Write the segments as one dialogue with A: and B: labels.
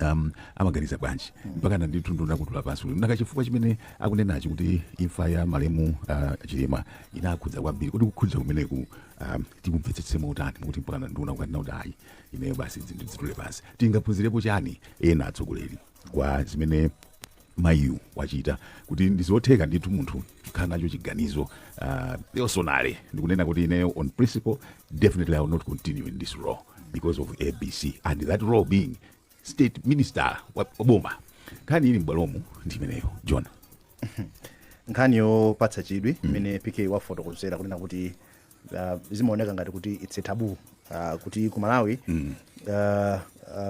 A: um, amaganiza bwanji mpaka ndithu nduna kutula pansi kuti nanga chifukwa chimene akunenachi kuti imfa ya malemu uh, chilima inakhudza kwambiri kodi kukhudza kumeneku um, tikumvetsetse motani kuti mpaka na nduna kukanena kuti ayi ineyo basi zinthu zitule pansi tingaphunzirepo chani ena atsogoleri kwa zimene mayiyu wachita kuti ndizotheka ndithu munthu kukhala nacho chiganizo uh, personally ndikunena kuti ineyo on principle definitely i will not continue in this role because of abc and that role being state minister wa boma nkhani ili m'bwalomu ndi imeneyo john
B: nkhani yopatsa chidwi imene pk wafotokozera kunena kuti uh, zimaoneka ngati kuti its a taboo uh, kuti ku malawi mm. uh,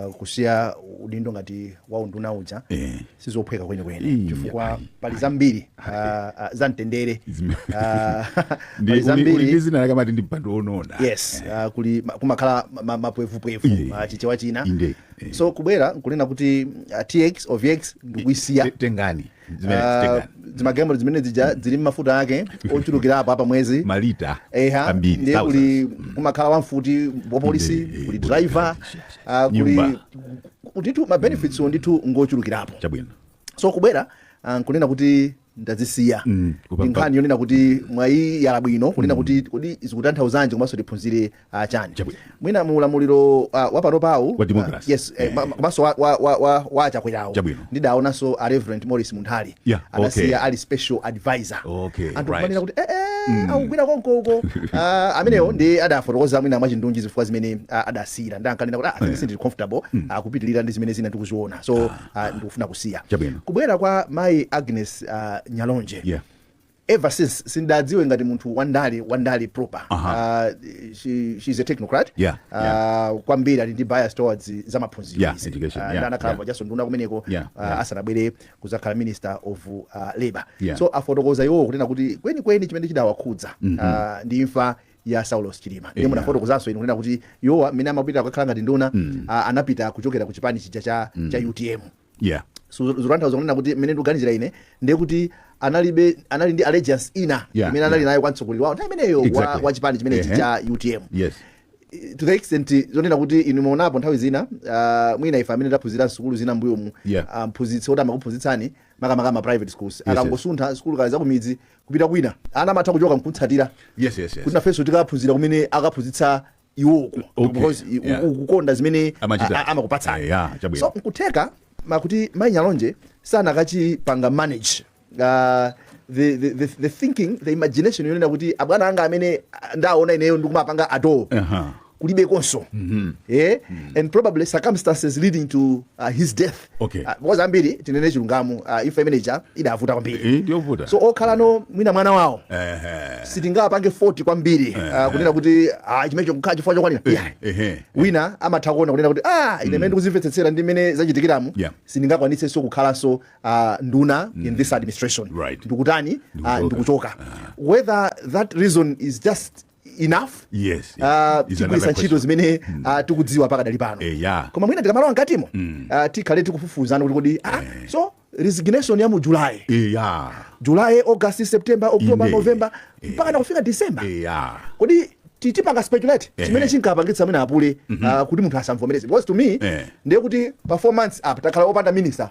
B: uh, kusiya udindo ngati wa unduna uja Eh. sizophweka kwenikweni Ii, chifukwa pali zambiri uh, uh, za mtendere Zime- Ah,
A: Ndi- pali uli- uli ndi zambiri zina amati ndi mpando onona yes ah,
B: kuli ma- kumakhala ma- ma- mapwevupwevu Inde. ah, chichewa china Inde, eh. so kubwera nkunena kuti ah, tx ovx ndikuisiya Te- tengani
A: Zimene Ah,
B: zitenga. zimagalimoto zimene zija zili mafuta ake ochulukirapo a pa mwezi malita
A: eha ambiri ndiye
B: thousands. kuli kumakhala wamfuti wapolisi Inde, kuli kuli driver ah, kuli Nyumba. ndithu ma benefits ndithu ngochulukirapo chabwino
A: so
B: kubwera ah, nkunena kuti ndazisiya Mm, ndi nkhani yonena kuti mwayiyala bwino kunena kuti kodi zikutanthauzanji komanso tiphunzire ah, chani Chabwino. mwina mu ulamuliro ah, wa panopawu Wa democracy. ah, yes eh, ma- ma- komanso wa- wa- wa- wa- wa achakwerawo Chabwino. ndidaonanso a reverend maurice munthali Yeah, adasiya okay. ali special advisor Okay, anthu right. kumanena kuti eh, eh, akugwira konkoko Ah, amenewo ndi adafotokoza mwina mwachindunji zifukwa zimene ah, adasiyira ndi ankanena kuti ah, sindili comfortable ah, kupitirira ndi zimene zina ndikuziona so ah, ndikufuna kusiya Chabwino. kubwera kwa mayi agnes ah, nyalonje Yeah. ever since sindawadziwe ngati munthu wandale wandale proper uh Aha. -huh. she, she's a technocrat Yeah, uh, yeah. kwambiri ali ndi bias towards za maphunziro Yeah, izi. education, Ah, yeah, ndi adakhalapo yeah. kaleso nduna kumeneko Yeah, ah, yeah. asanabwere kudzakhala minister of uh, labor Yeah. so afotokoza iwowo kunena kuti kwenikweni chimene chidawakhudza ah, ndi imfa ya saulos chilima ndiye Yeah. munafotokozanso inu kunena kuti iwowa mmene amapita kukakhala ngati nduna ah, anapita kuchokera ku chipani chija cha, cha utm yeah Su- zikutanthauza kunena kuti mmene ndikuganizira ine ndiye kuti analibe anali ndi allegiance ina Yeah, imene anali yeah. nayo kwa mtsogoleri wawo nthawi imeneyo wa, Exactly. wa chipani chimenechi Ehe. cha utm yes to the extent zonena kuti inu munaonapo nthawi zina uh, mwina ife amene taphunzira sukulu zina mbuyomu Yeah. ah, mphunzitsi oti amakuphunzitsani makamaka ma private schools yes. akangosuntha sukulu kale zakumidzi kupita kwina ana amatha kuchoka nkutsatira yes yes yes kuti nafenso tikaphunzira kumene akaphunzitsa iwo uko Okay, because i- yeah. u- ukukonda zimene Amachita. a- a- amakupatsani Eh, yeah, chabwino. so nkutheka kuti mai nyalonje sanakaipanga manage uh, the, the, the, the thinking the imagination yonena kuti abwana anga amene ah, ndaona ineyo ndikumapanga atoo Aha. kulibekonso eh? and probably circumstances leading to uh, his death okay Ah, because ambiri tinene chilungamo ah, imfa imene ija idavuta kwambiri Eh, ndiyovuta so okhalano mwina mwana wawo Ehe. sitingapange fault kwambiri ah, kunena kuti ah, chimenecho kukhala chifukwa chokwanira yeah. Ehe. wina amatha kuona kunena kuti ah, ine mene ndikuzimvetsetsera ndi mmene zachitikiramu Yeah. sindingakwanitsenso kukhalanso ah, nduna in this administration Right. ndikutani ah, Ndikuchoka. ndikuchoka whether that reason is just enough yes uh, yeah. Is another tigwiritsa question. ntchito zimene uh, tikudziwa pakadali pano Eh, yeah. koma mwina tikamalowa mkatimo uh, tikhale tikufufuzana kuti kodi ah, so resignation ya mu july Eh, yeah. july august september october Inde. november mpaka na kufika december Eh, yeah. kodi ti- tipanga speculate Eh. chimene chinkapangitsa mwina apule ah, kuti munthu asamvomereze because to me Eh. ndiye kuti pa four months apa takhala opanda minister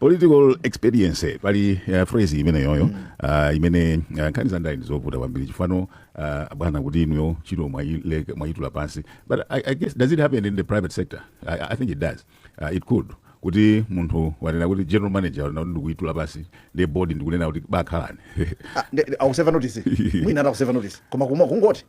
A: political expediency pali uh, phrase imeneyoyo uh, imene uh, nkhani za ndale ndizovuta kwambiri chifuniro uh, bwana kuti inuyo ntchito mwaile- mwayitula pansi but I, i guess does it happen in the private sector i, I think it does uh, it could kuti munthu wanena kuti general manager wanena kuti ndikuyitula pansi ndi board ndikunena kuti bakhalani Ah, nde- nde-
B: akuseva notice mwina ati akuseva notice koma kungoti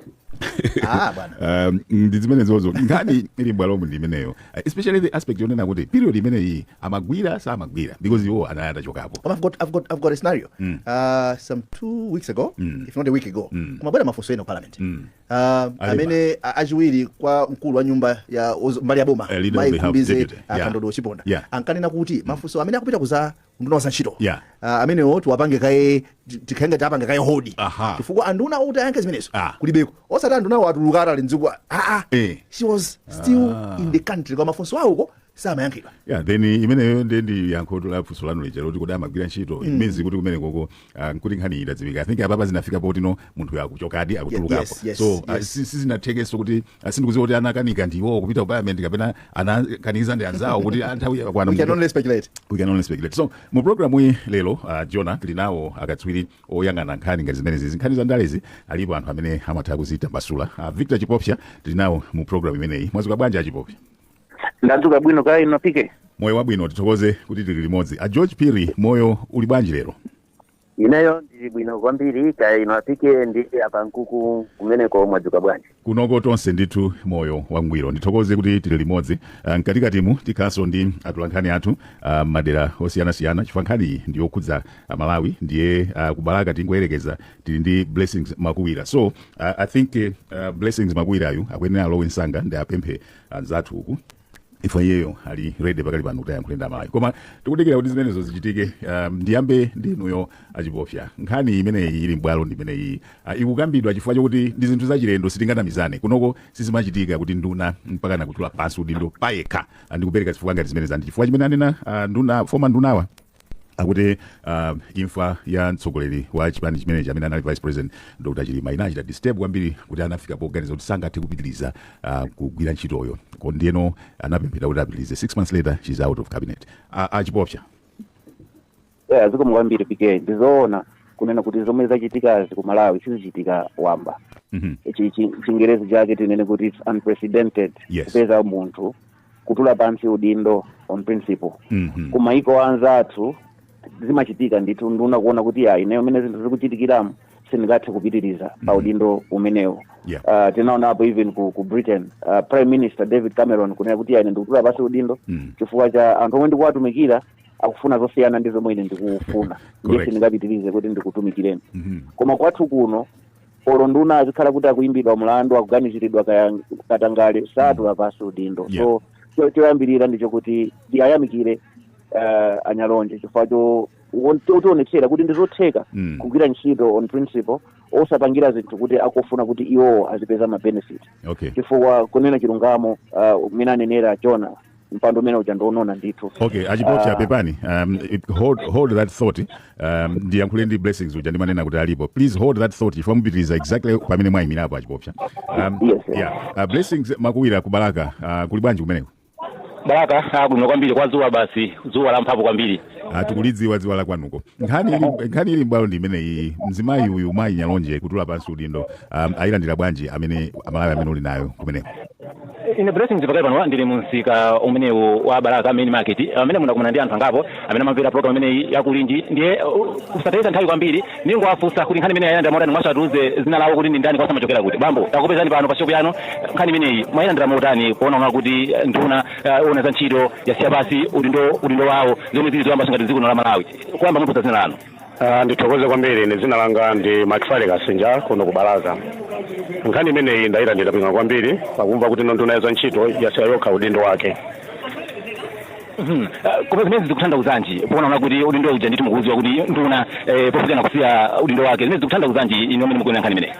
B: ah bwana Um, ndi
A: zimenezozo nkhani ili mbwalomu ndi imeneyo especially the aspect yonena kuti period imeneyi amagwira samagwira because iwo anali atachokapo Koma I've got, I've got, I've got a scenario.
B: Mm. Uh, some two weeks ago, mm. if not a week ago, mm. kumabwera mafunso ena parliament. Mm. Uh, amene a- achiwiri kwa mkulu wa nyumba ya ozo- mbali ya boma Eh, leader of the House, Mai Khumbize, deputy. uh, Yeah. Kandodo Chiponda Yeah. ankanena kuti mafunso amene akupita ku za unduna wa zantchito Yeah. Ah, amenewo tiwapange kaye ti- tikhale ngati tapanga kaye hold Aha. chifukwa anduna okuti ayankhe zimenezo Ah. kulibeko osati andunawo atuluka atali mdziko aa Eh. she was still in the country koma mafunso awoko samayankhidwa ya then imeneyo
A: nde ndi yankho la funso lanu lija loti kodi amagwira ntchito it means kuti kumene koko ah, nkuti nkhani idadziwika i think apapa zinafika poti no munthuyo akuchokadi akutulukapo yes, yes, so ah, yes. si- sizinathekenso kuti ah, sindikuziwa kuti anakanika ndiwo kupita ku parliament kapena anakanizidwa ndi anzawo kuti ah, nthawi yakwana we can only speculate
B: we can only speculate so mu
A: programu iyi lero uh, jona tili nawo akatswiri oyang'ana nkhani ngati zimenezi izi nkhani za ndalezi alipo anthu amene amatha kuzitambasula uh, victor chipofya tili nawo mu programu imeneyi mwazuka bwanji a chipofya
C: ndadzuka bwino kaya inu a pk moyo wabwino
A: tithokoze kuti tili limodzi a george piri moyo uli bwanji lero
C: ineyo ndili bwino kwambiri kaya inu a pk ndi apankuku kumeneko mwadzuka bwanji kunoko tonse ndithu
A: moyo wangwiro ndithokoze kuti tili limodzi Ah, mkatikatimu tikhalanso ndi atolankhani athu ah, m'madera osiyanasiyana chifukwa nkhaniyi ndi yokhudza amalawi ndiye ah, ku balaka tingoyerekeza tili ndi blessings makuwira so ah, i think eh, ah, blessings makuwirayu akuyenera alowe msanga ndiwapemphe anzathu uku if iyeyo ali ready pakali pano kuti ayankhule ndi amalawi koma tikudikira kuti zimenezo zichitike um, ndiyambe ndi inuyo achipofya nkhani imene ili m'bwalo ndi imeneyi uh, ikukambidwa chifukwa chokuti ndi zinthu zachilendo sitinganamizane kunoko sizimachitika kuti nduna mpaka nakutula pansi udindo payekha uh, ndikupereka zifukwa ngati zimene zandi chifukwa chimene anena uh, nduna former ndunawa akuti uh, imfa ya mtsogoleri wa chipani chimenechi amene anali vice president dr chilima inawachita disturb kwambiri kuti anafika poganiza kuti sangathe kupitiriza uh, kugwira ntchitoyo Ko- ndiyeno anapemphera kuti apitirize six months later she's out of cabinet A-
C: achipofya yeah, zikomo kwambiri pk ndizoona kunena kuti zomwe zachitikazi ku malawi sizichitika wamba Mhm. Chi- chi- chingerezi chake tinene kuti it's unprecedented Yes. kupeza munthu kutula pansi udindo on principle Mhm. ku maiko anzathu zimachitika ndithu nduna kuona kuti iyayi ineyo mene zinthu zikuchitikiramu sindingathe kupitiriza pa udindo umenewu Yeah. Ah, tinaonapo even ku, ku britain ah, prime minister david cameron kunena kuti iyayi ine ndikutula pansi udindo Mm. chifukwa cha anthu omwe ndikuwatumikira akufuna zosiyana ndi zomwe ine ndikufuna ndiye Correct. sindingapitirize kuti ndikutumikireni Mhm. koma kwathu kuno olo nduna azikhala kuti akuimbidwa mlandu akuganiziridwa kaya katangale satula pansi udindo Yeah. so cho- choyambirira ndicho kuti ndiwayamikire uh, anyalonje chifukwa cho won- chotionetsera kuti ndizotheka Mm. kugwira ntchito on principle osapangira zinthu kuti akufuna kuti iwowo azipeza ma benefit okay chifukwa kunena chilungamo uh, mmene anenera jona mpando umene uja ndi onona ndithu okay achipofya Ah.
A: pepani um, it, hold, hold that thought um, ndiyankhule ndi blessings uja ndimanena kuti alipo please hold that thought chifukwa mupitiriza exactly pamene mwayimirapo achipofya um, Yes, yes. yeah. uh, blessings makuwira ku balaka uh, kuli bwanji kumeneko
D: balaka ili bwino kwambiri koma dzuwa basi dzuwa la mphamvu kwambiri uh, tikulidziwa dzuwa
A: la kwanuko nkhani ili, nkhani ili m'bwalo ndi imeneyi mzimayi uyu mayi nyalonje kutula pansi udindo um, ayilandira bwanji amene amalawi amene uli nayo kumeneko ine
D: blessings pakali pano ndili mu msika umenewu wa balaka main market amene ndakumana ndi anthu angapo amene amamvera program imeneyi ya kulinji ndiye uh, posatayitsa nthawi kwambiri ndingowafunsa kuti nkhani imeneyi ayilandira motani komanso atiuze dzina lawo kuti ndi ndani komanso amachokera kuti bambo takupezani pano pa shopu yanu nkhani imeneyi mwayilandira motani kuona mwa kuti eh, nduna eh, yoona za ntchito yasiya pansi udindo udindo wawo zomwe zili zoyamba mu dziko lino la malawi poyamba mutiuze dzina lanu Ah, ndithokoze
E: kwambiri ine dzina langa ndi Macfale Kasinja kuno ku Balaka nkhani imeneyi ndayilandira bwino kwambiri pakumva kuti nduna ya za ntchito yasiya yokha udindo wake Mhm. Eh,
D: koma zimene zikutanthauzanji poona kuti udindo uja ndithu mukudziwa kuti nduna eh, pofika nakusiya udindo wake zimene zikutanthauzanji inu amene mukuona nkhani imeneyi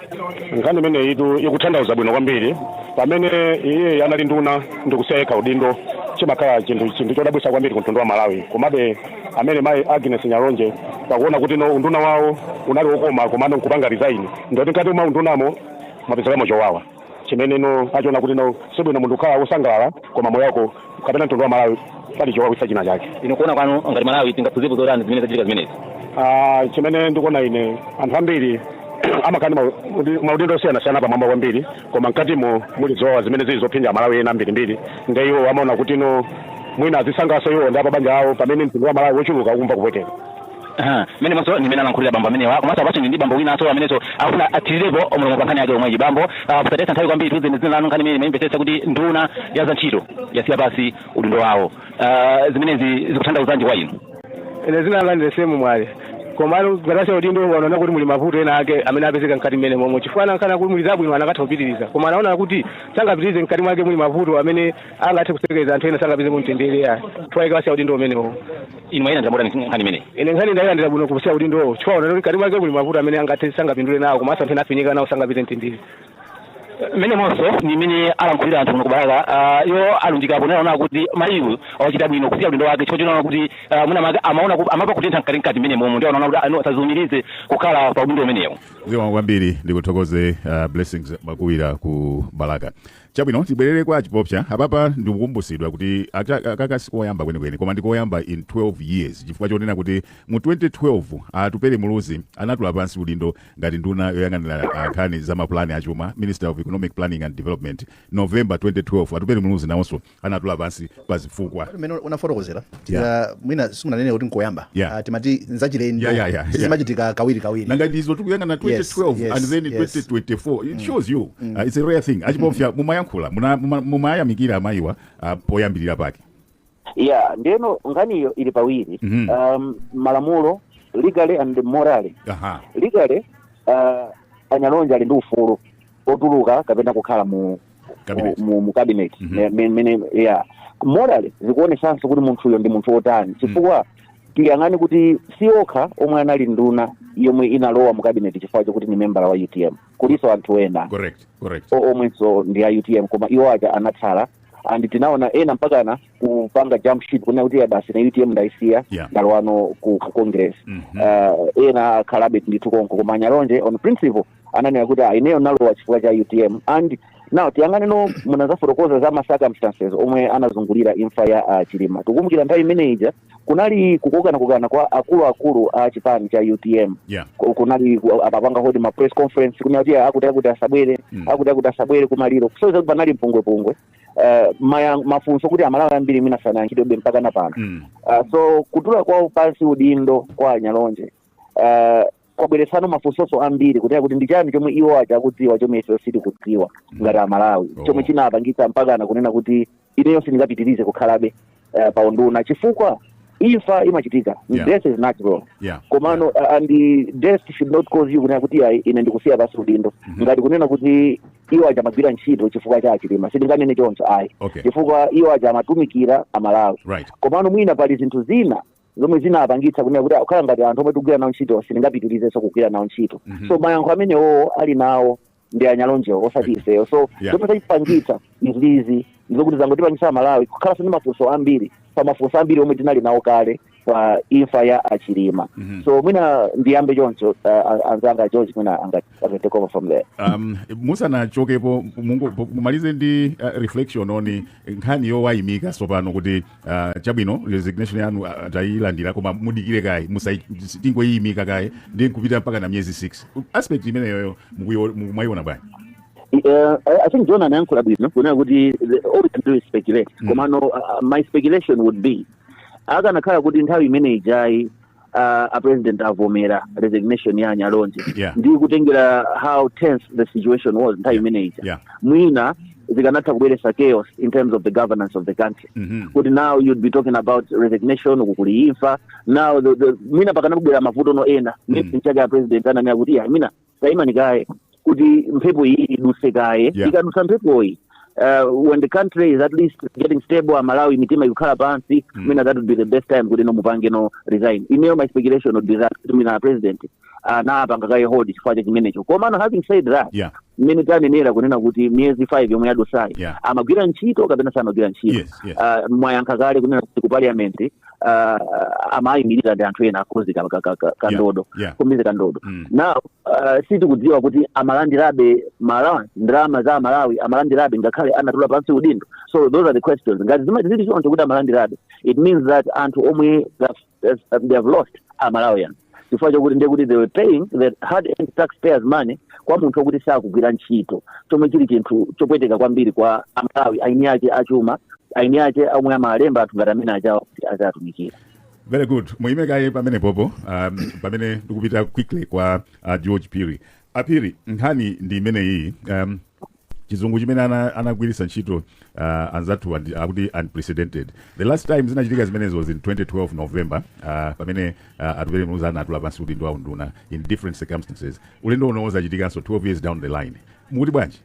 D: nkhani imeneyi
E: ikutanthauza bwino kwambiri pamene iye anali nduna ndikusiya yekha udindo chimakhala chinthu chinthu chodabwisa kwambiri ku mtundu wa Malawi komabe amene mayi Agnes Nyalonje pakuona kuti no unduna wawo unali wokoma komano nkupanga resign ndoti mkati mwa undunamo mwapezekamo chowawa chimene no achiona kuti no sibwino munthu kukhala wosangalala koma moyo wako kapena mtundu wa Malawi pali chowawitsa china chake inu kuona kwanu
D: ngati Malawi tingaphunzirepo zotani zimene zachitika zimenezi Ah, chimene
E: ndikuona ine anthu ambiri amakhala ndi mau- ndi maudindo osiyanasiyana pamwamba kwambiri koma mkatimo muli zowawa zimene zili zophinja Amalawi ena ambirimbiri nde iwowo amaona kuti no mwina azisangaso iwo ndi apabanja lawo pamene mtundu wa Malawi wochuluka ukumva kupweteka Aha, mmenemonso
D: ndi mmene alankhulira bambo amenewa komanso apaso ndi bambo winanso amenenso akufuna athirirepo mlomo pa nkhani yake yomweyi bambo ah, posataya nthawi kwambiri tiuzeni zina lanu nkhani imene mwaimvetsetsa kuti nduna ya za ntchito yasiya pansi udindo wawo Ah, zimenezi zikutanthauzanji kwa inu ine zina langa
F: ndine Semu Mwale komano kusiya udindo wanaona kuti muli mavuto ena ake amene apezeka mkati mmenemomo chifukwa anakaona kuti muli zabwino anakatha kupitiriza koma anaona kuti sangapitirize mkati mwake muli mavuto amene angathe kusokoneza anthu ena sangapeze mtendere ayi chifukwa chake wasiya udindo umenewo inu mwailandira
D: motani nkhani imeneyi ine nkhani ndayilandira bwino
F: kusiya udindowo chifukwa unaona kuti mkati mwake muli mavuto amene angathe sangapindule nawo komanso anthu ena afinyika nawo sangapeze mtendere
D: mmenemonso ndi mmene alankhulira anthu kuno ku Balaka uh, iwo alunjika ponena kuti mayiyu wachita bwino kusiya udindo wake chifukwa chonena kuti uh, mwina mwake amaona ku- amamva kutentha mkatimkati mmenemomo ndi anaona kuti no asaziumirize kukhala pa udindo umenewo zikomo kwambiri
A: ndikuthokoze uh, Blessings Makuwira ku Balaka chabwino tibwerere kwa a Chipofya apapa ndikukumbusidwa kuti aka- akaka sikoyamba kwenikweni koma ndikoyamba in 12 years chifukwa chonena kuti mu 2012 Atupele Muluzi anatula pansi udindo ngati nduna yoyang'anira ah, nkhani za mapulani achuma minister of economic planning and development november 2012 Atupele Muluzi nawonso anatula pansi pa zifukwa mmene unafotokozera
B: tira mwina simunanene kuti nkoyamba Yeah. Ah, timati nzachilendo Yeah, yeah, yeah, yeah. sizimachitika kawiri kawiri nanga ndizo tikuyang'ana 2012
A: Yes, yes, and then yes. 2024 it shows you uh, it's a rare thing a Chipofya mumayankhula muna- muma- mumayamikira amayiwa uh, poyambirira pake yeah
C: ndeno nkhaniyo ili pawiri Mhm. um, malamulo legally and morally aha legally uh, a Nyalonje ali ndi ufulu otuluka kapena kukhala mu Cabinet. mu, mu cabinet Mhm. Me- me- mene yeah morally zikuonesanso kuti munthuyo ndi munthu otani chifukwa tiyang'ane kuti si okha omwe anali nduna yomwe inalowa mu cabinet chifukwa chokuti ni membala wa UTM kulinso anthu ena correct correct
A: o- omwenso ndi
C: a utm koma iwo aja anatsala and tinaona ena mpakana kupanga jump ship kunena kuti basi na utm ndaisiya Yeah. ndalowano ku, ku congress Mhm. uh, ena akhalabe ndithu konko koma a Nyalonje on principle ananena kuti "Ah, ineyo nalowa chifukwa cha utm and now tiyang'aneno munazafotokoza za ma circumstances omwe anazungulira imfa ya uh, chilima tikumbukira nthawi imene ija kunali kukokanakokana kwa akuluakulu a chipani cha utm yeah. Ku- kunali ku- apanga hold ma press conference kunena kuti akuti akuti asabwere Mm. akuti akuti asabwere kumaliro so panali mpungwepungwe Eh, maya- mafunso kuti amalawi ambiri mwina sanayankhidwebe mpaka na pano Mm. Uh, so kutula kwawo pansi udindo kwa a Nyalonje uh, kwabweretsano mafunsoso ambiri kunena kuti ndi chani chomwe iwo aja akudziwa chomwe ife sitikudziwa ngati amalawi Oh. chomwe chinapangitsa mpakana kunena kuti ineyo sindingapitirize kukhalabe eh, pa unduna chifukwa imfa imachitika Yeah. death is natural Yeah. komano uh, and the death should not cause you kunena kuti ayi ine ndikusiya pansi udindo ngati kunena kuti iwo aja amagwira ntchito chifukwa cha a Chilima sindinganene choncho ayi Okay. chifukwa iwo aja amatumikira amalawi Right. komano mwina pali zinthu zina zomwe zinapangitsa kunena kuti akhala ngati anthu omwe tikugwira nawo ntchito sindingapitirizenso kugwira nawo ntchito Mhm. so mayankho amenewo ali nawo ndi a Nyalonjewo osati ifeyo so Yeah. zomwe zachipangitsa izizi ndizokuti zangotipangitsa amalawi kukhalanso ndi mafunso ambiri pa mafunso ambiri omwe tinali nawo kale pa imfa ya a Chilima Mhm. so mwina ndiyambe choncho uh, anzanga george mwina angati take over from there um,
A: musanachokepo mungo- mumalize ndi uh, reflection on nkhani yowaimika tsopano kuti uh, chabwino resignation yanu uh, tayilandira koma mudikire kaye musai- tingoyiimika kaye ndi kupita mpaka na miyezi 6 aspect imeneyoyo mukuyo- mu- mwayiona bwanji
C: Uh, I I think John anayankhula bwino kunena kuti the- all we can do is speculate Mm. komano uh, my speculation would be akanakhala kuti nthawi imene ijayi a, a president avomera resignation ya a Nyalonje Yeah. ndi kutengera how tense the situation was nthawi imene ija Yeah. mwina zikanatha kubweretsa chaos in terms of the governance of the country Mhm. kuti now you'd be talking about resignation uku kuli imfa now the, the, mwina pakanakubwera mavutono ena nchake a president ananena kuti "Yeah, mwina tayimani kaye kuti mphepo iyi iduse kaye Yeah. ikadusa mphepoyi uh, when the country is at least getting stable amalawi mitima ikukhala pansi Mm. mwina that would be the best time kuti no mupangeno resign ineyo my speculation would be that kuti mwina president anapanga kaye hold chifukwa cha chimenecho komano having said that yeah mmene tanenera kunena kuti miyezi 5 yomwe yadutsayi Yeah. amagwira ntchito kapena samagwira ntchito Yes, yes. Ah, mwayankha kale kunena kuti ku parliament ah, amayimirira ndi anthu ena a Khumbize ka- ka- ka- ka- kandodo yeah. Khumbize Kandodo Mm. now ah, sitikudziwa kuti amalandirabe mala- ndalama za amalawi amalandirabe ngakhale anatula pansi udindo so those are the questions ngati zimati zili choncho kuti amalandirabe it means that anthu omwe that- that they have lost amalawi and chifukwa chokuti ndiye kuti they were paying the hard earned taxpayers money kwa munthu wokuti sakugwira ntchito chomwe chili chinthu chopweteka kwambiri kwa amalawi aini ake achuma aini ake omwe amalemba anthu ngati amene achawo kuti azatumikira very
A: good muyime kaye pamene popo um, pamene ndikupita quickly kwa uh, george piri apiri nkhani ndi imeneyi um, chizungu chimene ana- anagwiritsa ntchito uh, anzathu andi- akuti unprecedented the last time zinachitika zimenezo was in 2012 november uh, pamene uh, atupele muluzi anatula pansi udindo wa unduna in different circumstances ulendo uno zachitikanso 12 years down the line mukuti
C: bwanji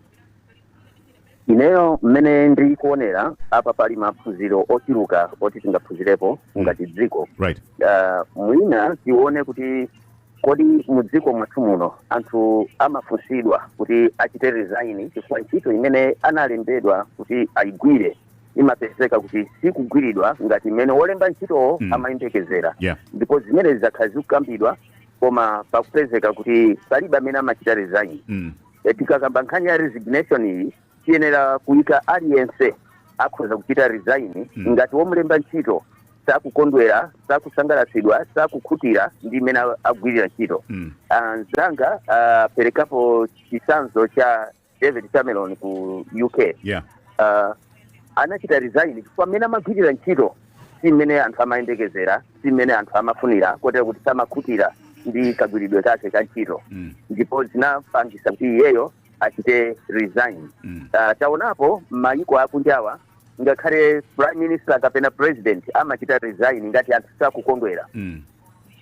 C: ineyo mmene ndikuonera apa pali maphunziro ochuluka oti tingaphunzirepo ngati dziko right uh,
A: mwina
C: tione kuti Kodi mu dziko mwathu muno anthu amafunsidwa kuti achite resign chifukwa ntchito imene analembedwa kuti ayigwire imapezeka kuti sikugwiridwa ngati mmene wolemba ntchitowo Mm. amayembekezera Yeah. ndipo zimenezi zakhala zikukambidwa koma pakupezeka kuti palibe amene amachita resign Mm. Eh, tikakamba nkhani ya resignation iyi tiyenera kuyika aliyense akhoza kuchita resign Mm. ngati womulemba ntchito sakukondwera sakusangalatsidwa sakukhutira ndi mmene agwirira ntchito Mm. Ah, mzanga aperekapo chitsanzo cha david cameron ku uk Yeah. Ah, anachita resign chifukwa mmene amagwirira ntchito si mmene anthu amayembekezera si mmene anthu amafunira kotero kuti samakhutira ndi kagwiridwe kake ka ntchito Mm. ndipo zinapangisa kuti iyeyo achite resign Mm. Ah, taonapo mayiko akunjawa ngakhale prime minister kapena president amachita resign ngati anthu sakukondwera Mm.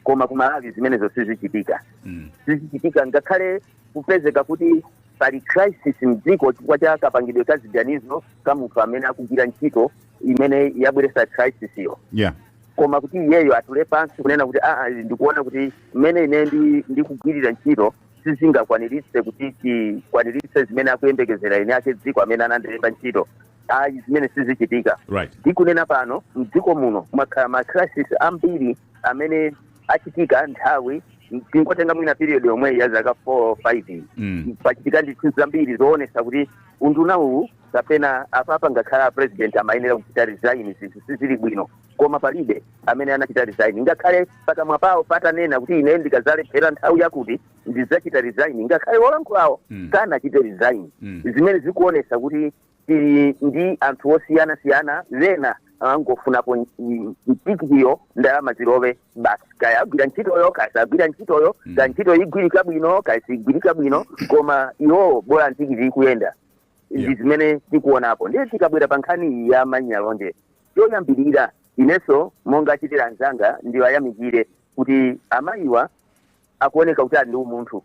C: koma ku malawi zimenezo sizichitika Mm. sizichitika ngakhale kupezeka kuti pali crisis mdziko chifukwa cha kapangidwe ka ziganizo ka munthu amene akugwira ntchito imene yabweretsa crisis-yo yeah koma kuti iyeyo atule pansi kunena kuti aa ndikuona kuti mmene ine ndi- ndikugwirira ntchito sizingakwaniritse kuti tikwaniritse zimene akuyembekezera eni ake dziko amene anandilemba ntchito ayi zimene sizichitika right ndikunena pano mdziko muno mwakhala ma crisis ambiri amene achitika nthawi tingotenga mwina period yomweyi ya zaka 4 5 Mm. pachitika ndithu zambiri zoonesa kuti unduna uwu kapena apapa ngakhale a president amayenera kuchita resign zinthu sizili bwino koma palibe amene anachita resign ngakhale pakamwa pawo patanena kuti ine ndikadzalephera nthawi yakuti ndidzachita resign ngakhale wolankhulawo Mm. sanachite resign Mm. zimene zikuonesa kuti tili ndi anthu osiyana siyana ena angofunapo nchi- nchikiyo ndalama zilowe basi kaya agwira ntchitoyo kaya sagwira ntchitoyo Mm. kaya ntchito igwirika bwino kaya sigwirika bwino koma iwowo bola ntikiti ikuyenda Yeah. ndi zimene tikuonapo ndiye tikabwera pa nkhani iyi ya a Nyalonje Choyambilira inenso monga achitira anzanga ndiwayamikire kuti amayiwa akuoneka kuti ali ndi umunthu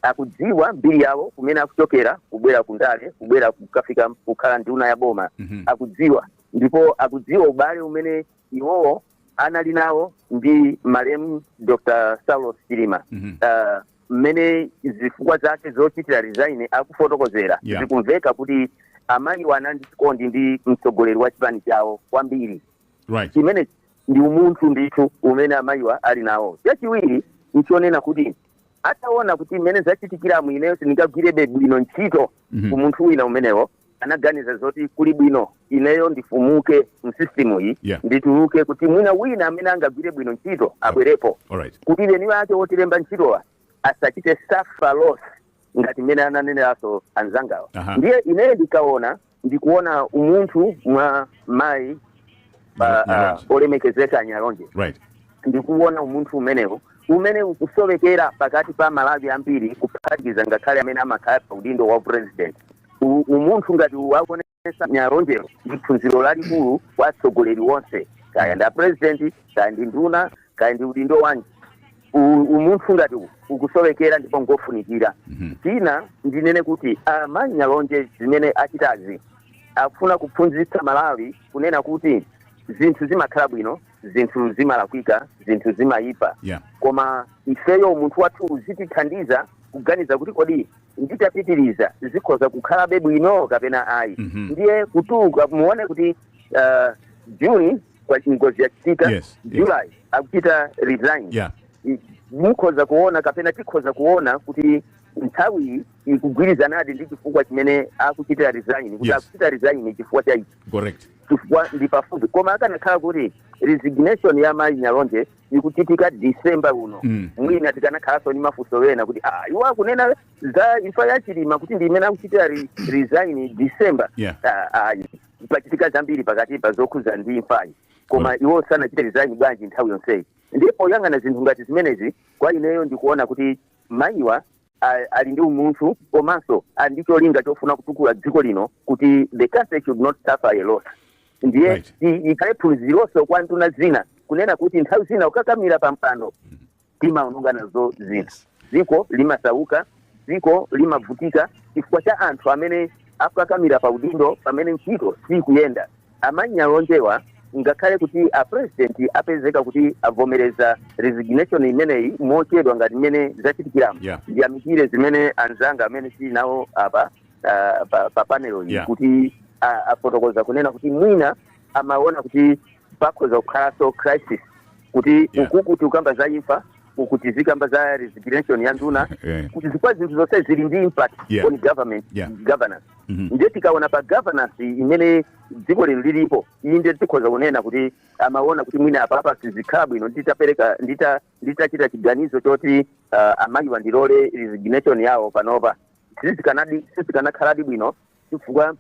C: akudziwa mbiri yawo kumene akuchokera kubwera ku ndale kubwera kukafika kukhala nduna ya boma akudziwa ndipo akudziwa ubale umene iwowo anali nawo ndi malemu Dr. Saulos Chilima Ah, mmene zifukwa zake zochitira resign akufotokozera Yeah. zikumveka kuti amayiwa anali ndi chikondi ndi mtsogoleri wa chipani chawo kwambiri right chimene ndi umunthu ndithu umene amayiwa ali nawo chachiwiri nchonena kuti ataona kuti mmene zachitikiramu ineyo sindingagwirebe bwino ntchito Mhm. ku munthu wina umenewo anaganiza zoti kuli bwino ineyo ndifumuke mu system iyi Yeah. ndituluke kuti mwina wina amene angagwire bwino ntchito abwerepo All right. kuti eni wake wotilemba ntchitowa asachite suffer loss ngati mmene ananeneranso anzangawa Aha. ndiye ineyo ndikaona ndikuona umunthu mwa mayi pa- Nyalonje. ah, olemekezeka a Nyalonje Right. ndikuona umunthu umenewo umene ukusowekera pakati pa Amalawi ambiri kuphatikiza ngakhale amene amakhala pa udindo wa president U- umunthu ngati wawonetsa Nyalonje lero ndi phunziro lalikulu kwa atsogoleri onse kaya ndi a president kaya ndi nduna kaya ndi udindo wanji U- umunthu ngati uwu ukusowekera ndipo ngofunikira china ndinene kuti amayi Nyalonje zimene achitazi akufuna kuphunzitsa Amalawi kunena kuti zinthu zimakhala bwino zinthu zimalakwika zinthu zimayipa yeah. koma ifeyo umunthu wathu uzitithandiza kuganiza kuti kodi nditapitiriza zikhoza kukhalabe bwino kapena ayi mm -hmm. ndiye kutuluka muone kuti uh, June kwa ngozi yachitika yes, July yes. akuchita resign yeah. mukhoza kuona kapena tikhoza kuona kuti nthawi ikugwirizanadi ndi chifukwa chimene akuchitira resign kuti yes. akuchita resign chifukwa cha ichi correct chifukwa ndi pafupi koma akanakhala kuti resignation ya mayi Nyalonje ikuchitika December uno Mm. mwina tikanakhalanso ndi mafunso ena kuti ah, iwo akunena za imfa ya Chilima kuti ndi imene akuchitira re, resign December Yeah. Ah, ah, pachitika zambiri pakati pa zokhuza ndi imfayi koma iwo sanachite resign bwanji nthawi yonseyi ndi poyang'ana zinthu ngati zimenezi kwa ineyo ndikuona kuti mayiwa ali ndi umunthu komanso ali ndi cholinga chofuna kutukula dziko lino kuti the country should not suffer loss ndiye Right. i- ikhale phunzironso kwa nduna zina kunena kuti nthawi zina kukakamira pa mpando timaononga nazo zina dziko limasauka dziko limavutika chifukwa cha anthu amene akukakamira pa udindo pamene ntchito sikuyenda A Manyalonjewa, Ngakhale kuti a president apezeka kuti avomereza resignation imeneyi mochedwa ngati mmene zachitikiramu, Yeah. ndiyamikire zimene anzanga amene tili nawo apa ah, pa, pa panel iyi Yeah. kuti ah, afotokoza kunena kuti mwina amaona kuti pakhoza kukhalanso crisis kuti Yeah. uku kuti ukamba za imfa uku tizikamba za resignation ya nduna Yeah. chifukwa zinthu zonse zili ndi impact Yeah. on government Yeah. governance Mhm. ndiye tikaona pa governance imene dziko lino lilipo ili ndiye tikhoza kunena kuti amaona kuti mwina apa apa sizikhala bwino nditapereka ndita nditachita chiganizo choti uh, amayi awa ndilole resignation yawo panopa sizikanadi sizikanakhaladi bwino chifukwa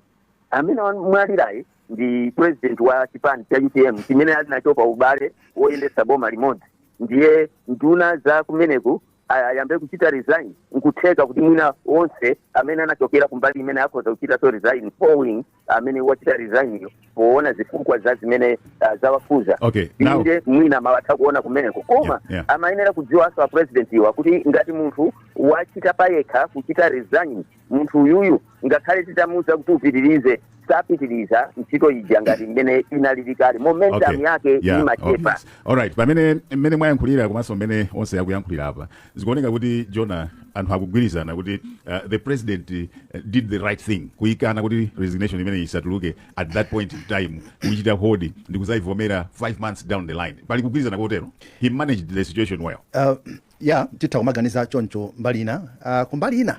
C: amene amwalirayu ndi president wa chipani cha utm chimene ali nacho pa ubale woyendetsa boma limodzi ndiye nduna za kumeneko ayambe kuchita resign nkutheka kuti mwina onse amene anachokera kumbali imeneyi akhoza kuchitanso resign following amene wachita resign uyo poona zifukwa za zimene ah, zawakhuza Okay, now- inde mwina amatha kuona kumeneko koma Yeah, yeah. amayenera kudziwanso a president iwo kuti ngati munthu wachita payekha kuchita resign munthu uyuyu ngakhale titamuuza kuti upitirize sapitiriza ntchito ija ngati mmene inalili kale momentum Okay. yake Yeah, imachepa okay. Alright, pamene
A: mmene mwayankhulira komanso mmene onse akuyankhulira apa zikuoneka kuti Jonah anthu akugwirizana kuti uh, the president uh, did the right thing kuyikana kuti resignation imene isatuluke at that point in time kuchita hold ndi kuzayivomera five months down the line pali kugwirizana kotero he managed the situation well Uh, ya titha
B: kumaganiza choncho mbali ina uh, kumbali ina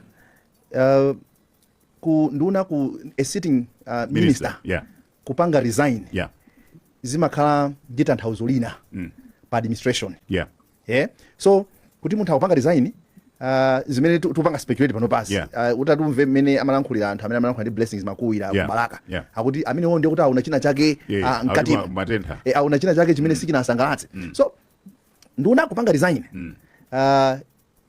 B: uh, nduna ku a sitting uh, minister, minister yeah. kupanga resign yeah. zimakhala ndi tanthauzo lina mm. pa administration yeah. Yeah. so kuti munthu akupanga resign uh, zimene tikupanga speculate panopa so yeah. uh, utatumve mmene amalankhulira anthu amene amalankhulira ndi Blessings Makuwira yeah. ku Balaka yeah. akuti amenewo ndiye kuti aona china chake yeah. uh, mkati eh, aona china chake chimene mm. sichinasangalatse mm. so nduna kupanga resign mm. uh,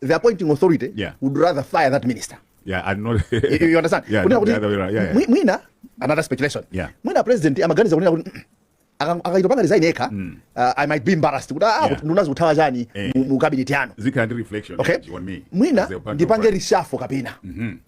B: the appointing authority Yeah. would rather fire that minister yeah and not
A: you, you understand Yeah, kunena
B: not kuti the other way around. Yeah, yeah. mwi- mwina another speculation Yeah. mwina president amaganiza kunena kuti "Mm, aka- akaita panga resign yekha uh, i might be embarrassed kuti ah Yeah. kuti nduna zikuthawa chani Eh. mu- mu cabinet yanu zikhala ndi reflection okay
A: energy on me mwina as a partner ndipange of-
B: rishafo kapena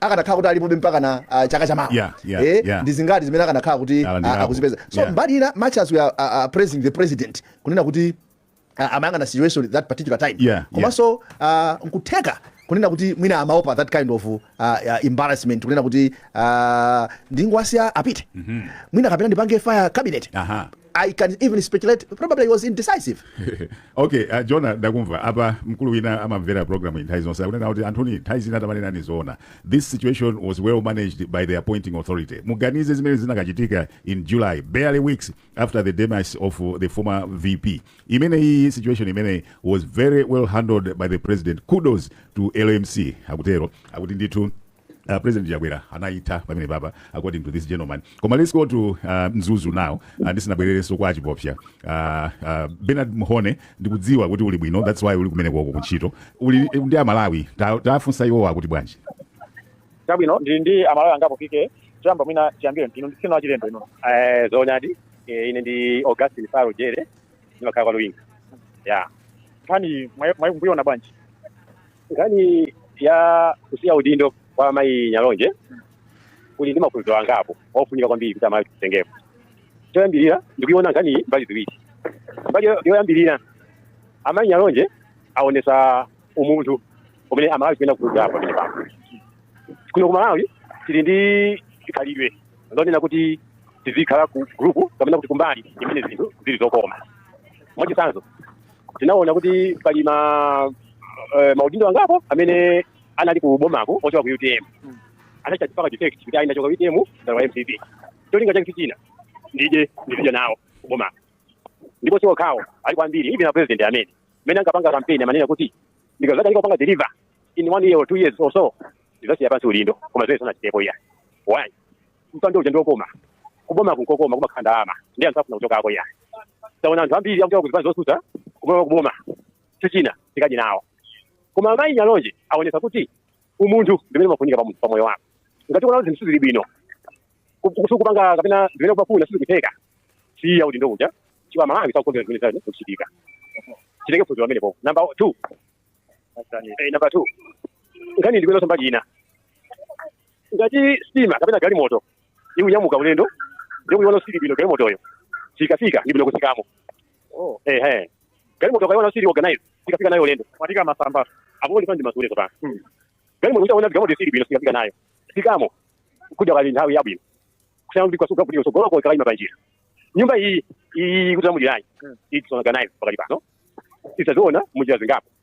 B: akanakhala kuti alipobe mpakana uh, chaka cha mawa Yeah, yeah, eh, yeah. ndi zingati zimene akanakhala kuti Alandirapo. uh, akuzipeza so Yeah. mbali ina much as we are uh, uh, praising the president kunena kuti uh, amayang'ana situation at that particular time Yeah, komanso uh, nkutheka kunena kuti mwina amaopa that kind of uh, uh, embarrassment kunena kuti uh, ndingowasiya apite mwina kapena ndipange fire cabinet Aha. I can even speculate probably he was indecisive. okay,
A: uh, Jonah ndakumva apa mkulu wina amamvera program nthawi zonse akunena kuti anthuni nthawi zina tamanenani zoona. This situation was well managed by the appointing authority. Muganize zimene zinakachitika in July, barely weeks after the demise of uh, the former VP. Imene iyi situation imeneyi was very well handled by the president. Kudos to LMC akutero akuti ndithu Uh, president chakwera anayitha pamene papa according to this gentleman koma let's go to uh, mzuzu now uh, ndisinabwererenso kwa achipopsya uh, uh, benard mhone ndikudziwa kuti uli bwino that's why uli kumene koko kuntchito uli ndi amalawi Ta- tafunsa iwowo akuti bwanji
G: chabwino ndili ndi amalawi angapo apike choyamba mwina tiyambire inu ndisina wachilendo inu Eh, zoonadi eh, ine ndi augustin faro jere ndimakhala kwa luwinga ya nkhani mwayiona bwanji nkhani ya kusiya udindo kwa amayi nyalonje kuli ndi maphunziro angapo ofunika kwambiri kuti amalawi titengepo choyambirira ndikuiona nkhani iyi mbali ziwiri mbali yo- yoyambirira amayi nyalonje aonesa umunthu umene amalawi tikuyenera kuphunzirapo pamene pano kuno ku malawi tili ndi khalidwe lonena kuti tizikhala ku group kapena kuti kumbali imene zinthu zili zokoma mwachitsanzo tinaona kuti pali ma eh, maudindo angapo amene anali ku bomaku ochoka ku utm anachita kupanga defect kuti ine ndachoka utm ndalowa mcp cholinga chake si china ndidye ndipita nawo ku bomaku ndipo si okhawo alipo ambiri even a president amene mmene ankapanga kampeni amanena kuti ndikadzakanika kupanga deliver in one year or two years or so ndidzasiya pansi udindo koma zimene sanachitepo iya why mpando uja ndiokoma kubomaku nkokoma kumakhala ndalama ndiye anthu safuna kuchokako ya taona anthu ambiri akuchoka kuzipani zotsutsa kuboma kuboma cholinga tikadye nawo koma amayi nyalonje aonesa kuti umunthu ndimene umafunika pa munthu pa moyo wako ngati ukuona zinthu sizili bwino ku- ku- sukupanga kapena zimene umafuna sizikutheka siya udindo uja chifukwa malawi sakukondwera zimene zili kuchitika titenge phunziro pamenepo namba two eh, namba two nkhani ndikuionanso mbali ina ngati sitima kapena galimoto ikunyamuka ulendo ndiye ukuiona siili bwino galimotoyo sikafika ndi bwino kutsikamo oh. ehe galimoto ukaiona siili organize sukafika nayo ulendo katika masamba apo ndi pandi masule sopano hmm. galimoto ukaona galimoto siili bwino sukafika nayo tsikamo kudakali nthawi yabwino kusiyana ndi kwasuka kutsogolo kwa kalaima panjira nyumba iyi iyi kuti amudiranyi hmm. it's not organize pakati pano taziona munjira zingapo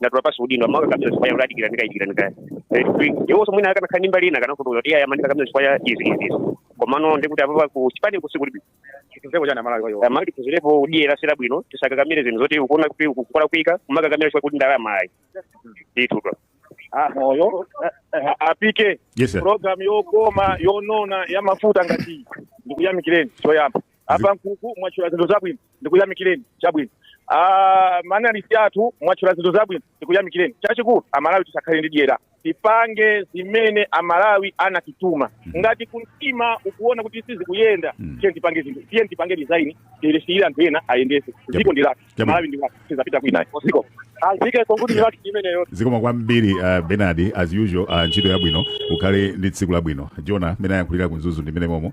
G: ndatula pansi udindo amaka kapsa sifaya uladi kila nika ikila nika iwonso mwina akanakhala ndi mbali ina kana kutu ya yamani kapsa sifaya izi izi izi komano ndikuti apapa ku chipani kusikuli bi Chituzeko chana malawi kwa hiyo. amalawi tiphunzirepo udyera suli bwino tisakakamire zinthu zoti ukuona kuti kukola kuika kumakakamira chifukwa kuti ndalama ayi ndithu Ah, moyo. A- Apike. Yes, sir. Program yokoma yonona ya mafuta ngati iyi. Ndikuyamikireni choyamba. Apa nkuku mwatchula zinthu zabwino. ndikuyamikireni chabwino Ah, maanalisi athu mwatchula zinthu zabwino ndikuyamikireni chachikulu amalawi tisakhale ndi dyera tipange zimene amalawi anatituma ngati kumtima ukuona kuti sizikuyenda tiye tipange zinthu tiye tipange resign tilisiyire anthu ena ayendese ziko ndi lathu Chabwino. malawi ndi lathu sitizapita kwina ayi ziko lake konkuno ndi lathu limeneli zikomo kwambiri uh,
A: benard as usual uh, ntchito yabwino ukhale ndi tsiku labwino jona mene ayankhulira ku mzuzu ndi mene momo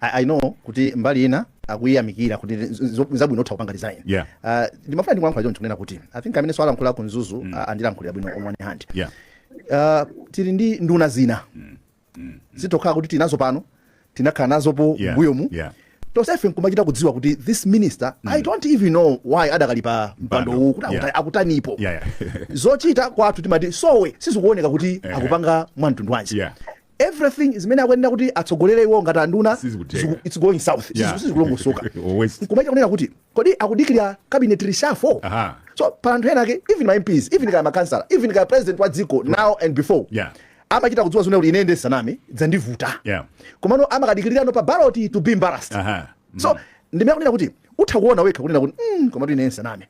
B: I, I know kuti mbali ina akuyiyamikira kuti z- z- zabwino utha kupanga resign Yeah. Ah, ndimafuna ndilankhule john kunena kuti i think amene walankhula ku mzuzu mm. andilankhulira bwino on one hand Yeah. Ah, tili ndi nduna zina zoti kaya kuti tinazo pano kaya tinakhala nazopo Yeah. mbuyomu Yeah. tosefe nkumachita kudziwa kuti this minister i don't even know why adakali pa mpando Mpando. uwu kuti akuta- Yeah. akutanipo Yeah, yeah. zochita kwathu timati sowe sizikuoneka kuti akupanga mwa mtundu wanji Yeah. Everything zimene akuyenera kuti atsogolere iwowo ngati anduna Sizikutheka. ziku- it's going south Sizi- Yeah. sizikulongosoka Or waste. nkumachita kunena kuti kodi akudikira cabinet reshuffle Aha. so pali anthu ena ake even ma mps even kaya makansala even kaya president wa dziko now and before Yeah. amachita kudziwa okha kuti ine ndisaname zandivuta Yeah. komano amakadikirirano pa baloti to be embarrassed Aha. so ndimene akunena kuti utha kuona wekha kunena kuti mm, komatu ine nsaname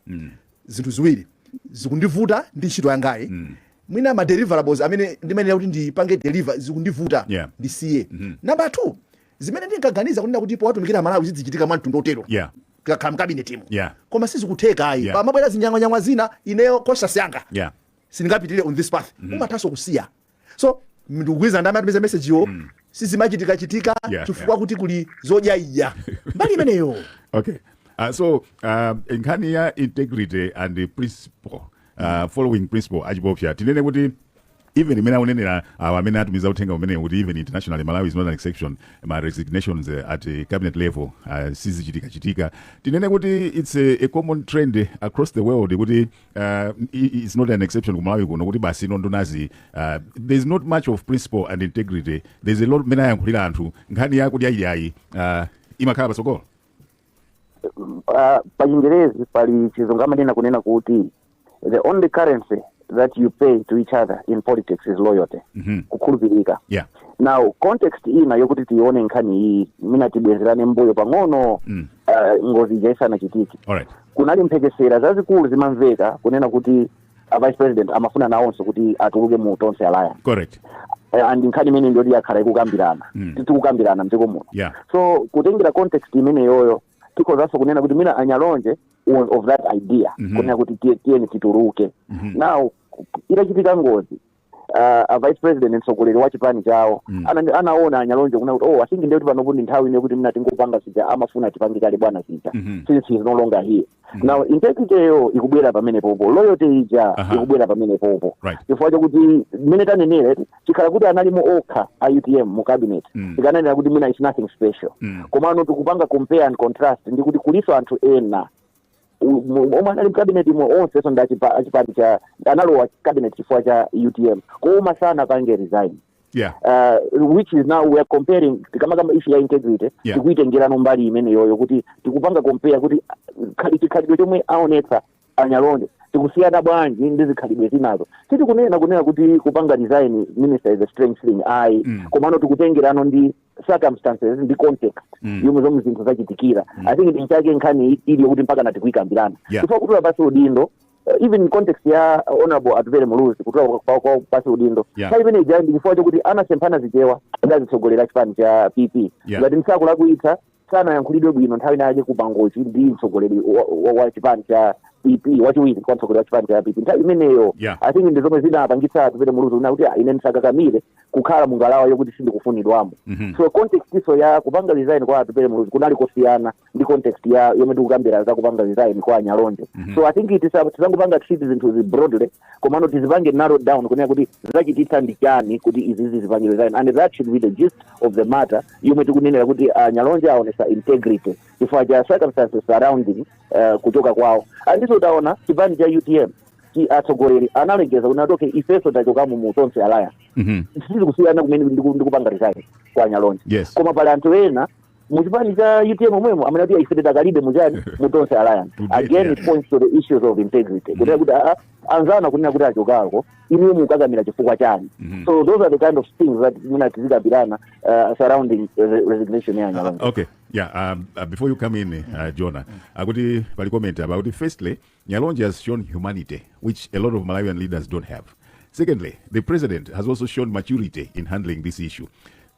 B: zinthu ziwiri zikundivuta ndi ntchito yangayi mm. mwina ma deliverables amene ndimayenera kuti ndipange deliver zikundivuta yeah. ndisiye mm -hmm. number two zimene ndinkaganiza kunena kuti powatumikira amalawi zidzichitika mwa mtundu otero yeah tikakhala mkabinetimu yeah. koma sizikutheka ayi yeah. pamabwera zinyang'wanyang'wa zina ineyo conscience yanga yeah. sindingapitire on this path mm -hmm. umathanso kusiya so ndikugwirizana ndi amene atumiza mesejiwo mm. sizimachitikachitika Yeah, chifukwa kuti kuli zodyaidya mbali imeneyo Okay. Uh,
A: so uh, nkhani ya integrity and the principle uh, following principle achipofya tinene kuti even imene akunenera awo amene atumiza uthengawu tinene kuti even internationally malawi is not an exception ma resignations uh, at uh, cabinet level uh, sizichitikachitika tinene kuti it's a, a common trend across the world kuti uh, it's not an exception ku malawi kuno kuti basi inu ndunazi uh, there's not much of principle and integrity there's a lot mmene ayankhulira anthu nkhani ya kudyaidyayi uh, imakhala patsogolo uh,
C: pachingerezi pali chizungu amanena kunena kuti the only currency that you pay to each other in politics is loyalty Mhm. kukhulupirika yeah now
A: context
C: ina yokuti tione nkhani iyi mwina tibwerereko mbuyo pang'ono Mm. uh, ngozi ija isanachitike alright
A: kunali
C: mphekesera zazikulu zimamveka kunena kuti a vice president amafuna nawonso kuti atuluke mu tonse alliance correct Eh,
A: and nkhani
C: imeneyi ndi yoti yakhala ikukambirana Mm. tikukambirana mdziko muno yeah so kutengera context imeneyoyo tikhozanso kunena kuti mwina a nyalonje on- of that idea Mhm. kunena kuti tiye- tiyeni tituluke Mhm. now itachitika ngozi ah, a vice president mtsogoleri wa chipani chawo Mm. Ana- anaona anyalonje kuna kuti oh i think ndekuti panopo ndi nthawi ine kuti mwina tingopanga sija amafuna tipange kale bwana sija Mhm. since he is no longer here now integrity yo ikubwera pamenepopo loyalty ija Aha. ikubwera pamenepopo Right. chifukwa chakuti mmene tanenere chikhala kuti analimo okha a utm mu cabinet Mm. tikananena kuti mwina is nothing special Mm. komano tikupanga compare and contrast ndi kuti kuliso anthu ena omwe anali mkabineti mo onse so ndachipani cha analowa cabinet chifukwa cha utm koma sanapange resign yeah
A: uh, which is now
C: we are comparing tikamaka issue ya integrity Yeah. tikuitengerano mbali imeneyoyo kuti tikupanga compare kuti uh, khali- chikhalidwe chomwe aonetsa anyalonje tikusiyana bwanji ndi zikhalidwe zinazo sitikunena kunena kuti kupanga resign minister is a strange thing ayi Mm. komano tikutengerano ndi circumstances ndi context Mm. yomwe zomwe zinthu zachitikira Mm. i think ndi chake nkhani i- ili yokuti mpaka natikuikambirana Yeah. chifukwa kutula pasi udindo uh, even in context ya uh, honorable atupele muluzi kutula kwa- kwa- kwa pasi udindo Yeah. nthawi imene ija ndi chifukwa chokuti anasemphana zichewa ndi azitsogoleri a chipani cha pp Yeah. ngati nsakulakwitsa sanayankhulidwe bwino nthawi inayake ku mangochi ndi mtsogoleri wa- wa- wa chipani cha pp wachiwiri kwa mtsogoleri wa chipani cha pp nthawi imeneyo Yeah. i think ndi zomwe zinapangitsa atupele muluzi kunena kuti "Ah, ine ndisakakamire kukhala mu ngalawa yokuti sindikufunidwamo Mhm. so context iso ya kupanga resign kwa atupele muluzi kunali kosiyana ndi context ya yomwe tikukambira za kupanga resign kwa anyalonje so i think it is- tisangopanga treat zinthu zi broadly komano tizipange narrow down kunena kuti zachititsa ndi chani kuti izizi apange resign and that should be the gist of the matter yomwe tikunenera kuti anyalonje aonesa integrity chifukwa cha circumstances surrounding uh, kuchoka kwawo andiso taona chipani cha utm chi- atsogoleri analengeza kuti ah okay ifeso tachokamo mu tonse alliance Mhm. sizikusiyana kumene ndiku- ndikupanga resign kwa anyalonje Yes. koma pali anthu ena mu chipani cha utm omwemo amene ati ife tidakalipobe mujani mu tonse alliance Today, again yeah. it points to the issues of integrity kunena kuti aa anzanu akunena kuti achokako inuyo mukukakamira chifukwa chani Mhm. so those are the kind of things that mwina tizikambirana uh, surrounding uh, the resignation ya nyalonje Ah, okay
A: yeah um, uh, before you come in uh, jona akuti pali comment apa akuti firstly nyalonje has shown humanity which a lot of malawian leaders don't have secondly the president has also shown maturity in handling this issue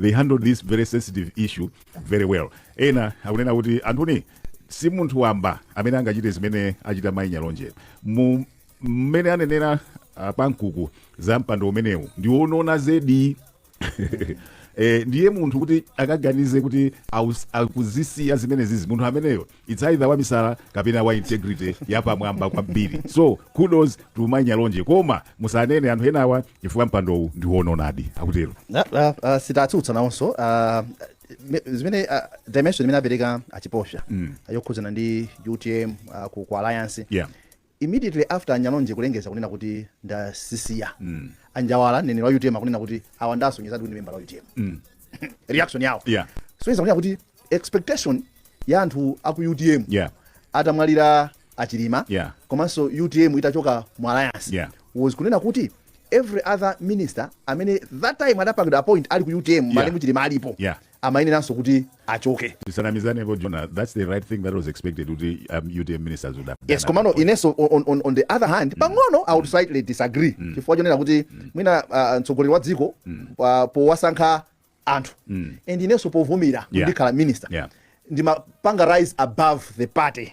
A: they handled this very sensitive issue very well ena akunena kuti anthony si munthu wamba amene angachite zimene achita mayi nyalonje Mu- mmene anenera ah, pankuku za mpando umenewu ndiwonona zedi Eh, ndiye munthu kuti akaganize kuti aus- akuzisiya zimenezizi munthu ameneyo Its either wamisala kapena wa integrity yapamwamba kwambiri so kudos to mai nyalonje koma musanene anthu enawa chifukwa mpandowu ndiwononadi akutero Na- ah, ah, sitatsutsa
B: nawonso ah, me- zimene ah, dimension imene apereka achiposha yokhudzana ndi utm ah, ku ku alliance Yeah. Immediately after a Nyalonje kulengeza kunena kuti ndazisiya, a Njawala mneneri wa utm akunena kuti awa ndiye asonyezadi kuti ndi membala wa utm. Reaction yawo. Yeah. Sonyeza kunena kuti expectation ya anthu aku utm Yeah. atamwalira a Chilima Yeah. komanso utm itachoka mu alliance Yeah. was kunena kuti every other minister amene that time adapangidwa appoint ali ku utm malemu Chilima alipo Yeah. amayeneranso kuti achoke. tisanamizanepo jona
A: thats the right thing that was expected kuti um, utm ministers would have done yes at komano that point. inenso
B: on, on, on, on the other hand pang'ono i would slightly disagree chifukwa chonena kuti mwina uh, mtsogoleri wa dziko pa- powasankha anthu and inenso povumira Yeah. ndikhala minister Yeah. ndimapanga rise above the party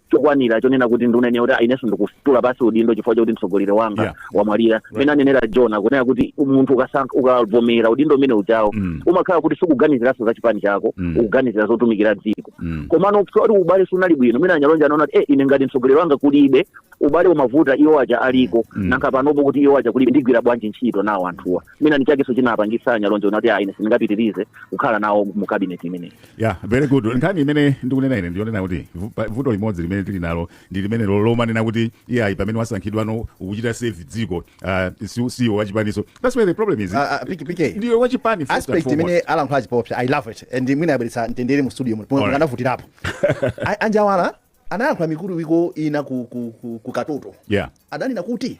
C: chokwanira chonena kuti ndinene kuti "Ah, inenso ndikutula pansi udindo chifukwa chakuti mtsogoleri wanga Yeah. wamwalira mene anenera jona kunena kuti munthu ukasankha ukavomera udindo umene ujawo Mm. umakhala kuti sukuganiziranso za chipani chako Mm. ukuganizira zotumikira dziko Mm. komano kuti ubale sunali bwino mwina anyalonje anaona kuti eh, ine ngati mtsogoleri wanga kulibe ubale umavuta iwo aja aliko Mm. nanga panopo kuti iwo aja kulibe ndigwira bwanji ntchito nawo anthuwa mwina nchakenso chinapangisa anyalonje kunena kuti ah, ine sindingapitirize kukhala nawo mu kabineti imeneyi ya very
A: good nkhani imene ndikunena ine ndiyonena kuti vu- pa- vuto limodzi limene tili nalo ndi limene lo- lomanena kuti iyayi pamene wasankhidwano ukuchita serve dziko ah, si- siwe wachipaninso that's where the problem is Ah, ah, PK, PK. ndiwe wachipani first and aspect foremost. imene
B: alankhula achipofya i love it and mwina yabweretsa mtendere mu studio muno Alright. mukanafufuzirapo anjawala anayankhula mikuluwiko ina ku, ku, ku, ku katoto yeah adanena kuti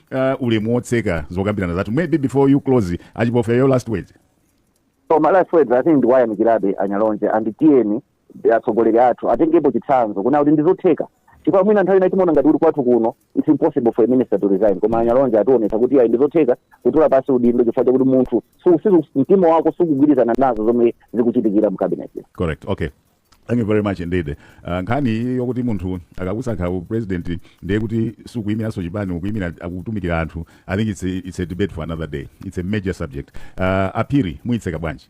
A: uh, ulemu wotseka zokambirana zathu maybe before you close achipofya your last words so my
C: last words i think ndikuwayamikirabe anyalonje and tiyeni atsogoleri athu atengepo chitsanzo kunena kuti ndizotheka chifukwa mwina nthawi ina timaona ngati kuti kwathu kuno it's impossible for a minister to resign koma anyalonje ationetsa kuti ayi ndizotheka kutula pansi udindo chifukwa chakuti munthu su- siku- mtima wako sukugwirizana nazo zomwe zikuchitikira mu cabinet correct okay
A: Thank you very much indeed. Uh, nkhani iyi yokuti munthu akakusankha u president ndiye kuti sukuyimiranso chipani ukuyimira ukutumikira anthu. I think it's a, it's a debate for another day. It's a major subject. Uh, aphiri muyitseka bwanji.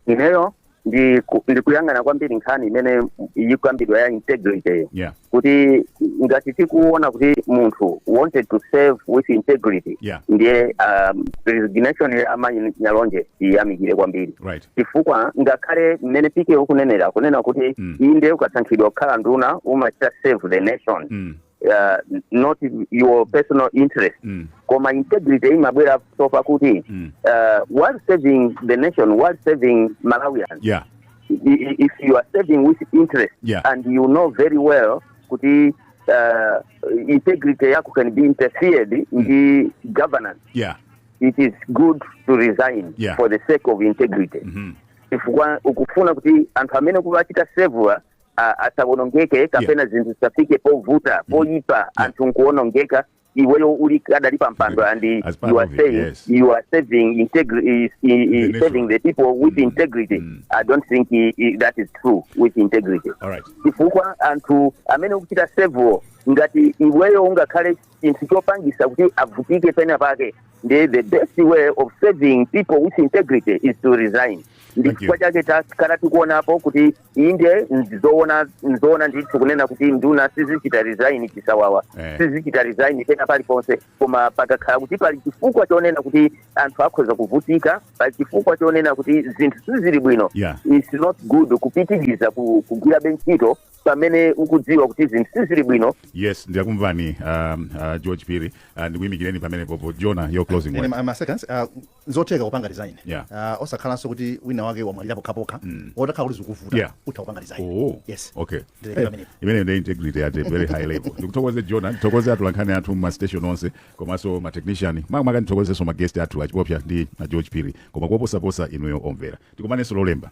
C: ineyo ndi ku- ndikuyang'ana kwambiri nkhani imene ikukambidwa ya integrity Yeah. kuti ngati tikuona kuti munthu wanted to serve with integrity Yeah. ndiye um, resignation ya amayi nyalonje tiyamikire kwambiri right chifukwa ngakhale mmene PK ukunenera kunena kuti Mm. inde ukasankhidwa kukhala nduna umachita serve the nation mm. uh, not your personal interest Mm. koma integrity imabwera so far kuti Mm. uh, while serving the nation while serving malawians yeah if you are serving with integrity yeah. and you know very well kuti uh, integrity yako can be interfered mm. ndi governance yeah. it is good to resign yeah. for the sake of integrity mm -hmm. chifukwa ukufuna kuti anthu amene ukuwachita serve asawonongeke kapena yeah. zinthu zisafike povuta mm-hmm. poyipa yeah. anthu nkuwonongeka iweyo uli kadali pa mpando and As part you are of it, saying yes. you are serving integri- is- i- i- The nation. serving the people with integrity Mm. i don't think i- i- that is true with integrity All right. chifukwa anthu amene ukuchita serve ngati iweyo ungakhale chinthu chopangisa kuti avutike pena pake nde the best way of serving people with integrity is to resign ndi Thank you. chifukwa chake takhala tikuonapo kuti inde ndizoona ndizoona ndithu kunena kuti nduna sizichita resign chisawawa Eh. sizichita resign pena paliponse koma pakakhala kuti pali chifukwa chonena kuti anthu akhoza kuvutika pali chifukwa chonena kuti zinthu sizili bwino Yeah. it's not good kupitiriza ku- kugwirabe ntchito pamene ukudziwa kuti zinthu sizili bwino yes ndakumvani
A: um, uh, george phiri uh, ndikuyimikireni pamenepopo jona your closing Ine word ma- ma seconds, uh,
B: nzotheka kupanga resign Yeah. Ah, osakhalanso kuti wina wake wamwalira pokhapokha Mm. otakhala kuti zikuvuta Yeah. utha kupanga resign Oh, yes okay Ndilekera Eh,
A: pamenepo. imene ndi integrity at a very high level ndikuthokoze jona ndithokoze atolankhani athu m'mastation onse komanso matechnician makamaka ndithokozenso maguest athu achipopsa ndi a george phiri koma kuposaposa inuyo omvera tikumanenso lolemba